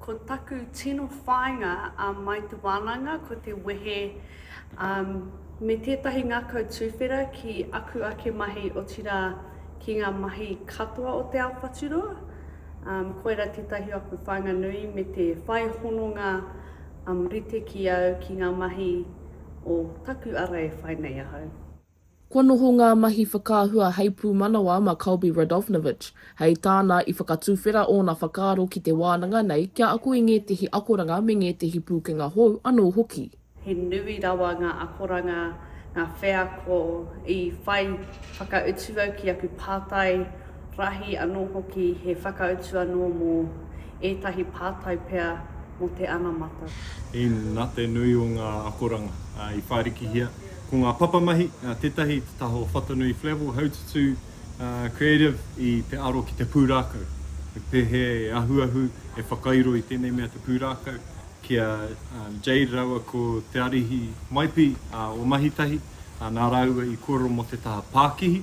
Ko taku tino whāinga a Mai Te Wānanga ko te wehe me tētahi ngākau tuwhera ki aku ake mahi otirā ki ngā mahi katoa o Te Ao Whaturoa. Koirā tētahi o aku whāinga nui me te whai hononga rite ki au ki ngā mahi o taku ara e whai nei ahau. Kua noho ngā mahi whakaahua hei pūmanawa mā Colby Radovnovich, hei tāna i whakatuwhera ōna whakaaro ki te wānanga nei kia ako i ngētehi akoranga me ngētehi pūkenga hou anō hoki. He nui rawa ngā akoranga, ngā wheako i whai whakautu au ki aku pātai. Rahi anō hoki he whakautu anō mō ētahi pātai pea mō te anamata. In na te nui o ngā akoranga i whārikihia, ko ngā papamahi tētahi i te taha o Whatanui Flavell Haututū Creative i te aro ki te pūrākau, he pēhea e ahuahu, e whakairo i tēnei mea te pūrākau, ki a Jade rāua ko Te Arihi Maipi o Mahitahi, nā rāua i kōrero mō te taha pākihi.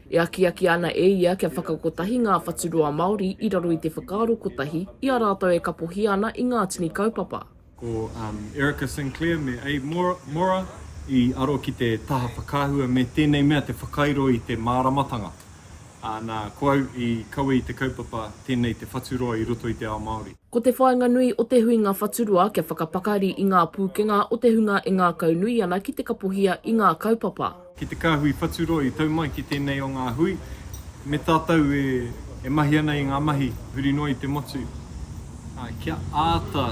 E akiaki ana e ia kia whakakotahi ngā whaturoa Māori i raro i te whakaaro kotahi i a rātou e kapohia ana i ngā tini kaupapa. Ko Erica Sinclair me Abe Mora i aro ki te taha whakaahua me tēnei mea te whakairo i te māramatanga. Nā, ko au i kawe i te kaupapa Tēnei te Whaturoa i roto i te Ao Māori. Ko te whāinga nui o te huinga whaturoa kia whakapakari i ngā pūkenga o te hunga e ngākaunui ana ki te kapohia i ngā kaupapa. ki te kāhui whaturua i tau mai ki tēnei o ngā hui, me tātou e mahi ana i ngā mahi huri noa i te motu, ā, kia āta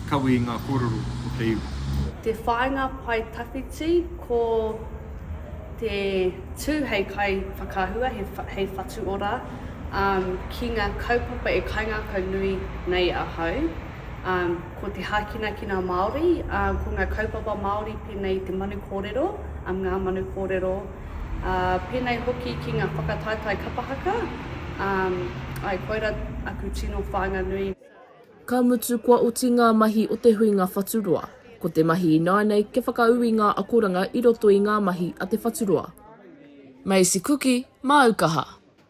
kawe i ngā kōrero o te iwi. Te whāinga pae tawhiti, ko te tū hei kaiwhakaahua, hei whatu ora ki ngā kaupapa e kaingākau nui nei ahau. ko te hākinakina Māori, ko ngā kaupapa Māori pēnei i te manu kōrero, ngā manu kōrero, pēnei hoki ki ngā whakataetae kapa haka, āe, koirā aku tino whānganui. Ka mutu kua oti ngā mahi o te huinga whaturoa. Ko te mahi ināianei kia whakaū i ngā akoranga i roto i ngā mahi a te whaturoa. Macy Kuki, Māu kaha.